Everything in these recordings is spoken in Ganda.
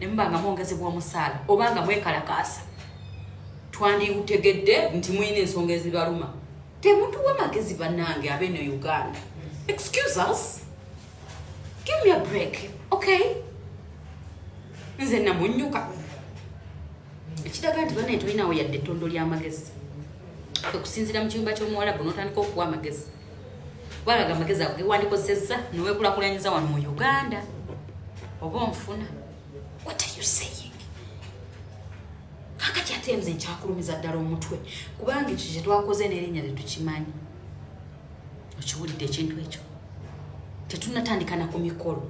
ne muba nga mwongezebwa omusaala oba nga mwekalakaasa twandiutegedde nti mulina ensonga ezibaluma temutuwa magezi bannange abeeno uganda excuse us give me a break okay nze namunyuka ekiraga nti banaye tolinawo yadde ettondo ly'amagezi okusinziira mu kiyumba ky'omuwalabu n'otandika okuwa amagezi gwalaga amagezi ago gewandikozesezza newekulakulanyiza wano mu uganda oba onfuna what are you saying kakati ate nze nkyakulumiza ddala omutwe kubanga ekyo kyetwakoze nerinnya tetukimanyi okiwulidde ekintu ekyo tetunatandikana ku mikolo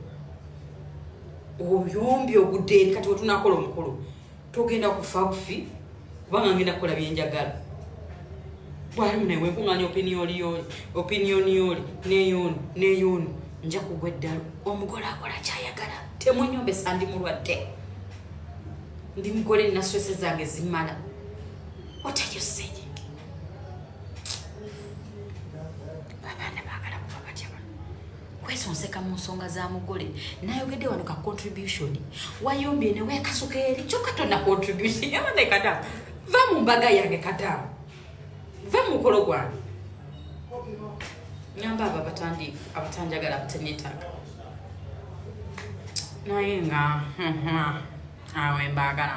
oyombi ogudde eri kati wetunakola omukolo togenda kufa bufi kubanga ngenda kukola byenjagala bwali munaye wenkuŋanya opiniyoliyoli opiniyoniyoli neyoni neyoni nja kugwa eddalu omugole akola kyayagala temunyombesa ndi mulwadde ndi mugole nasose zange zimala watayoseye kwesonseka mu nsonga za mugole nayogedde wano ka contribution wayombye ne wekasuka eri kyokka tonna contribution yabana ekadamu va mu mbaga yange kadamu va mu mukolo gwange nyamba abo abatandi abatanjagala abatenetaka naye nga awe mbagala